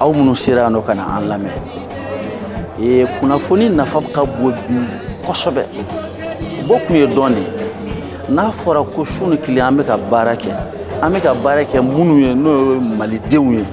aw minnu sera yan nɔ ka na an lamɛn ee kunnafoni nafa ka bon bi kosɛbɛ bɔ kun ye dɔn de ye n'a fɔra ko su ni tile an bɛ ka baara kɛ an bɛ ka baara kɛ minnu ye n'o ye malidenw ye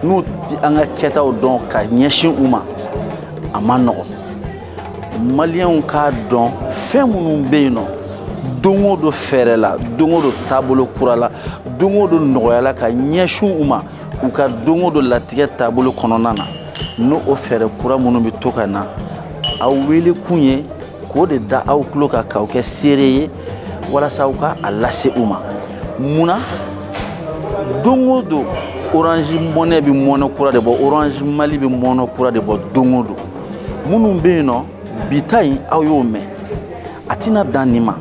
n'u tɛ an ka kɛtaw dɔn ka ɲɛsin u ma a man nɔgɔn maliyɛnw k'a dɔn fɛn minnu bɛ yen nɔ don o don fɛɛrɛ la don o don taabolo kura la don o don nɔgɔya la ka ɲɛsin u ma u ka don o don latigɛ taabolo kɔnɔna na n'o o fɛɛrɛ kura minnu bɛ to ka na aw wele kun ye k'o de da aw tulo kan k'aw kɛ seere ye walasa aw ka a lase u ma mun na don o don orange money bɛ mɔnɛ kura de bɔ orange mali bɛ mɔnɛ kura de bɔ don o don minnu bɛ yen nɔ bi ta in aw y'o mɛn a tɛna dan nin ma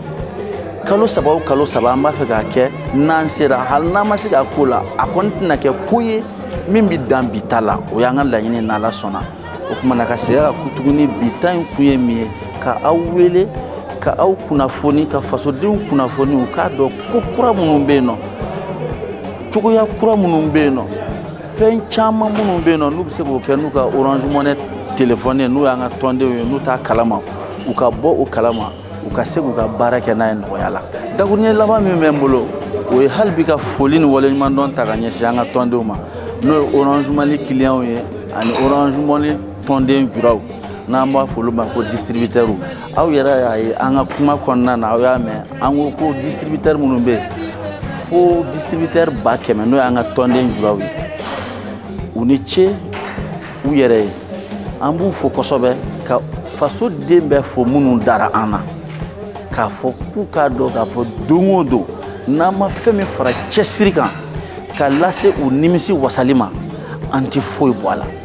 kalo saba o kalo saba an b'a fɛ k'a kɛ n'an sera hali n'an ma se k'a k'o la a kɔni tɛna kɛ ko ye min bɛ dan bi ta la o y'an ka laɲini n'ala sɔnna o kuma na ka segin ka ku tuguni bi ta in kun ye min ye ka aw wele ka aw kunnafoni ka fasodenw kunnafoni u k'a dɔn ko kura minnu bɛ yen nɔ cogoya kura minnu bɛ yen nɔ fɛn caman minnu bɛ yen nɔ n'u bɛ se k'o kɛ n'u ka orange money telefɔni ye n'u y'an ka tɔndenw ye n'u t'a kalama u ka bɔ o kalama u ka se k'u ka baara kɛ n'a ye nɔgɔya la dakuruɲɛ laban min bɛ n bolo o ye hali bi ka foli ni waleɲumandɔn ta ka ɲɛsin an ka tɔndenw ma n'o ye orange money kiliyanw ye ani orange money tɔnden juraw n'an b'a fɔ olu ma ko distributeurs Aw yɛrɛ y'a ye an ka kuma kɔnɔna na aw y'a mɛn an ko ko distributeurs minnu bɛ yen ko distributeurs ba kɛmɛ n'o y'an ka tɔnden juraw ye u ni ce u yɛrɛ ye an b'u fo kosɛbɛ ka fasoden bɛɛ fo minnu dara an na k'a fɔ k'u k'a dɔn k'a fɔ don o don n'an ma fɛn min fara cɛsiri kan ka lase u nimisi wasali ma an tɛ foyi bɔ a la